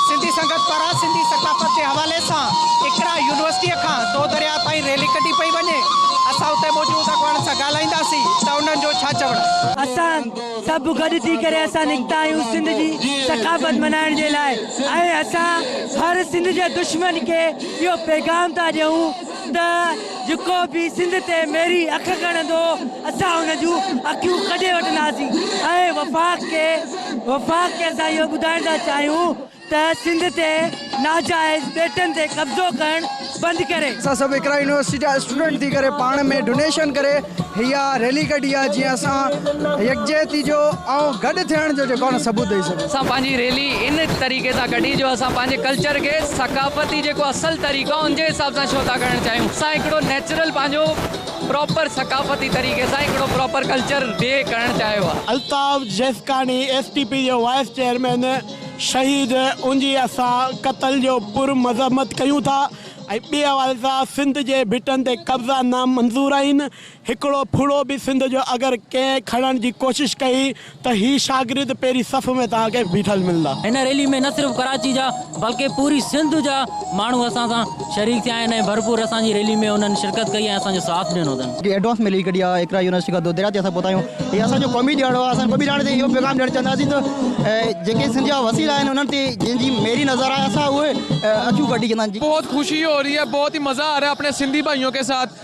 سنڌي سنگت پاران سنڌي ثقافت جي حوالي سان اقرا يونيورسٽيء کان دو درياهه تائين ريلي ڪڍي پئي وڃي، اسان اتي موجود اڳواڻن سان ڳالهائينداسين ته انهن جو ڇا چوڻ آهي. اسان سڀ گڏ ٿي ڪري اسان نڪتا آهيون سنڌ جي ثقافت ملهائڻ جي لاء ۽ اسان هر سنڌ جي دشمن کي اهو پيغام ٿا ڏيون. ته جيڪو به سنڌ تي ميري اک ڳڻندو اسان ان جون اکيون ڪڍي وٺنداسين ۽ وفاق کي وفاق کي اسان اهو ٻڌائڻ ٿا چاهيون ته سنڌ تي ناجائز ٻيٽن تي قبضو ڪرڻ بند ڪري. اسان سڀ اقرا يونيورسٽي جا اسٽوڊنٽ ٿي ڪري پاڻ ۾ ڊونيشن ڪري هي اها ريلي ڪڍي آهي جيئن اسان يڪجهتي جو ۽ گڏ ٿيڻ جو جيڪو آهي نه ثبوت ڏئي سگهون. اسان پنهنجي ريلي ان طريقي سان ڪڍي جو اسان پنهنجي ڪلچر کي. ثقافتي جيڪو اصل طريقو آهي ان جي حساب سان ڇو ٿا ڪرڻ چاهيون اسان هڪڙو نيچرل پنهنجو پراپر ثقافتي طريقي سان هڪڙو پراپر ڪلچر ڊي ڪرڻ چاهيو آهي. Altaf Jeskani S T P جو وائيس چيئرمين شهيد انجي اسان قتل جو پر مذمت ڪيون ٿا ۽ ٻئي حوالي سان سنڌ جي ڀٽن تي قبضا نامنظور آهن هڪڙو ڦڙو به سنڌ جو اگر ڪنهن کڻڻ جي ڪوشش ڪئي ته هي شاگرد پهرين صف ۾ توهان کي بيٺل ملندا. هن ريلي ۾ نه صرف ڪراچي جا بلڪه پوري سنڌ جا ماڻهو اسان سان شريڪ ٿيا آهن ۽ ڀرپور اسان جي ريلي ۾ انهن شرڪت ڪئي ۽ اسان جو ساٿ ڏنو اٿن. جي ايڊوانس ۾ ليڪ ڪڍي آء اقرا يونيورسٽي کان دودريا تي اسان پهتا آهيون هي اسان جو قومي ڏهاڙو آهي اسان قومي ڏهاڙي تي اهو پيغام ڏيڻ چاهنداسين ته جيڪي سنڌ جا وسيل آهن انهن تي جن جي ميري نظر آهي اسان اهي اکيون ڪڍي چوندا آهن جي بهت خوشي هو رهي هي بهت ئي مزا آ رهي آپڻي سنڌي ڀائيون ڪي ساٿ.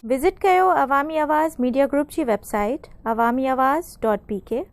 وزٽ ڪيو عوامي آواز ميڊيا گروپ جي website Awami Awaz dot P ڪي.